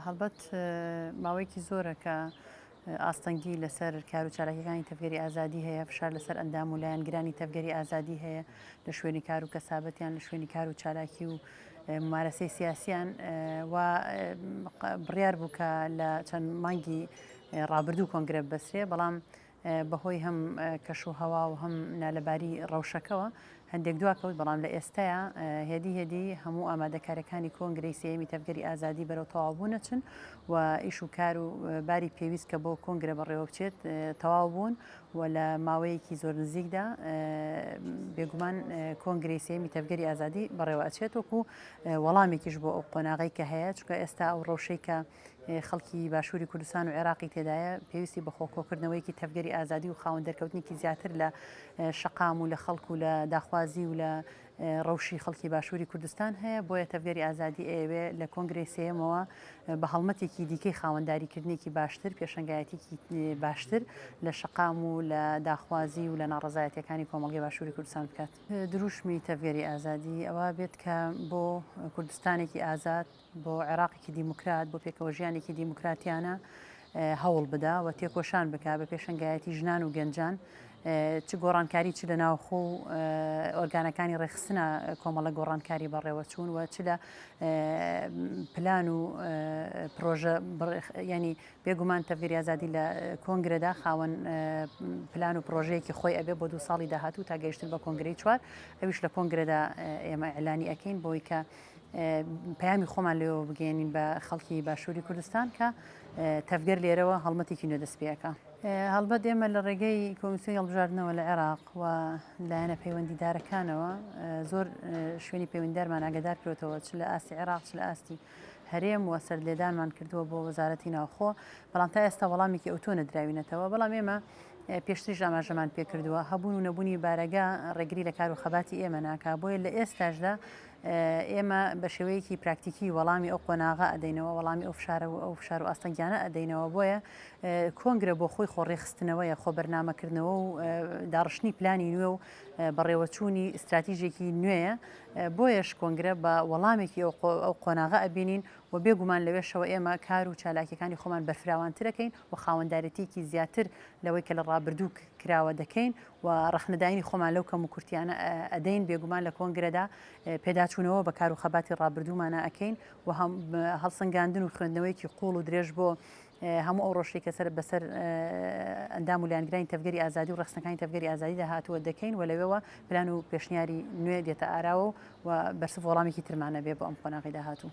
هەڵبەت ماوەیەکی زۆرە کە ئاستەنگی لەسەر کار و چالاکیەکانی تەڤگەری ئازادی هەیە، فشار لەسەر ئەندام و لایەنگرانی تەڤگەری ئازادی هەیە لە شوێنی کار و کەسابەتیان لە شوێنی کار و چالاکی و مارەسەی سیاسیان و بڕیار بوو کە لە چەند مانگی ڕابردوو کۆنگرە بەسرێ بەڵام بەهۆی هەم کەش و هەوا و هەم نالەباری ڕەوشەکەوە هەندێک دواکەوت، بەڵام لە ئێستایا هێدی هێدی هەموو ئامادەکاریەکانی کۆنگرەی سێیەمی تەڤگەری ئازادی بەرەو تەواوبوون ئەچن و ئیش و کار و باری پێویست کە بۆ کۆنگرە بەڕێوەبچێت تەواو بوون و لە ماوەیەکی زۆر نزیکدا بێگومان کۆنگری سێمی تەڤگەری ئازادی بەڕێوە ئەچێت وەکو وەڵامێکیش بۆ ئەو قۆناغی کە هەیە چکە ئێستا ئەو ڕەوشەی کە خەڵکی باشووری کوردستان و عێراقی تێدایە پێویستی بە خۆکۆکردنەوەیکی تەفگەری ئازادی و خاون دەرکەوتنیکی زیاتر لە شقام و لە خەڵکو لە داخوازی و لە ڕەوشی خەڵکی باشووری کوردستان هەیە بۆیە تەفگەری ئازادی ئەوێ لە کۆنگری سێمەوە بە هەڵمەتێکی دیکەی خاوەنداریکردنێکی باشتر پێشنگایەتێکی باشتر لە شقام و لە داخوازی و لە ناڕزایەتەکانی کۆمەڵگەی باشووری کوردستان بکات دروشمی تەفگەری ئازادی ئەوە بێت کە بۆ کوردستانێکی ئازاد بۆ عێراقێکی دیموکرات، بۆ پێکەوەژیانێکی دیموکراتیانە هەوڵ بدا و تێکۆشان بک بە پێشنگایەتی ژنان و گەنجان چ گۆڕانکاری چ لە ناوخۆ و ئۆرگانەکانی ڕێخستنە کۆمەڵە گۆڕانکاری بەڕێوەچوون و چ لە پلان و پرۆژە ینی بێگومان تەڤریازادی لە کۆنگرەدا خاوەن پلان و پرۆژەیەکی خۆی ئەبێ بۆ دو ساڵی داهاتوو تا گەیشتن بە کۆنگری چوار ئەویش لە کۆنگرەدا ئێمە ئەلانی ئەەکەین بۆی کە پەیامی خۆمان لێەوە بگەێنین بە خەڵکی باشووری کوردستان کە تەفگەر لێرەوە هەڵمەتێکی نوێ دەستپێەکە. هەڵبەت ئێمە لە ڕێگەی کۆمسیۆن هەڵبژاردنەوە لە عێراق و لایەنە پەیوەندیدارەکانەوە زۆر شوێنی پەیوەنددارمان ئاگدار کرێتەوە چ لە ئاستی عێراق چ لە ئاستی هەرێم و سەر لێدانمان کردووە بۆ وەزارەتی ناوخۆ بەڵام تا ئێستا وەڵامێکی ئەوتۆ نەدراوینەتەوە بەڵام ئێمە پێشتریش ئاماژەمان پێکردووە هەبوون و نەبوونی بارەگە ڕێگری لە کار و خەباتی ئێمە ناکە بۆیە لە ئێستاشدا ئێمە بە شێوەیەکی پراکتیکی وەڵامی ئەو قۆناغە ئەدەینەوە وەڵامی ئەو فشارە و ئەو فشار و ئاستەنگیانە ئەدەینەوە بۆیە کۆنگرە بۆ خۆی خۆڕێخستنەوەیە خۆ بەرنمەکردنەوە و داڕشتنی پلانی نوێ و بەڕێوەچوونی استراتیژێکی نوێیە بۆیەش کۆنگرە بە وەڵامێکی ئەو قۆناغە ئەبینین و بێگومان لەوێشەوە ئێمە کار و چالاکیەکانی خۆمان بەرفراوانترەکەین و خاوەندارێتیکی زیاتر لەوەی کە لە ڕابردوو کراوە دەکەین و ڕەخنەداینی خۆمان لەو کەم و کورتیانە ئەدەین بێگومان لە کۆنگرەدا پێداچوونەوە بە کار و خەباتی ڕابردوومانە ئەکەین و هەڵسەنگاندن و خوێندنەوەیەکی قوڵ و درێژ بۆ هەموو ئەو ڕۆشتی کە سەر بەسەر ئەندام و لایەنگرانی تەفگەری ئازادی و ڕخسنەکانی تەفگەری ئازادی داهاتووە دەکەین و لەوێەوە پلان و پێشنیاری نوێ دێتە ئاراوە و بەرسڤ وەڵامێکی ترمانە بێ بۆ ئەم قۆناغی داهاتوو.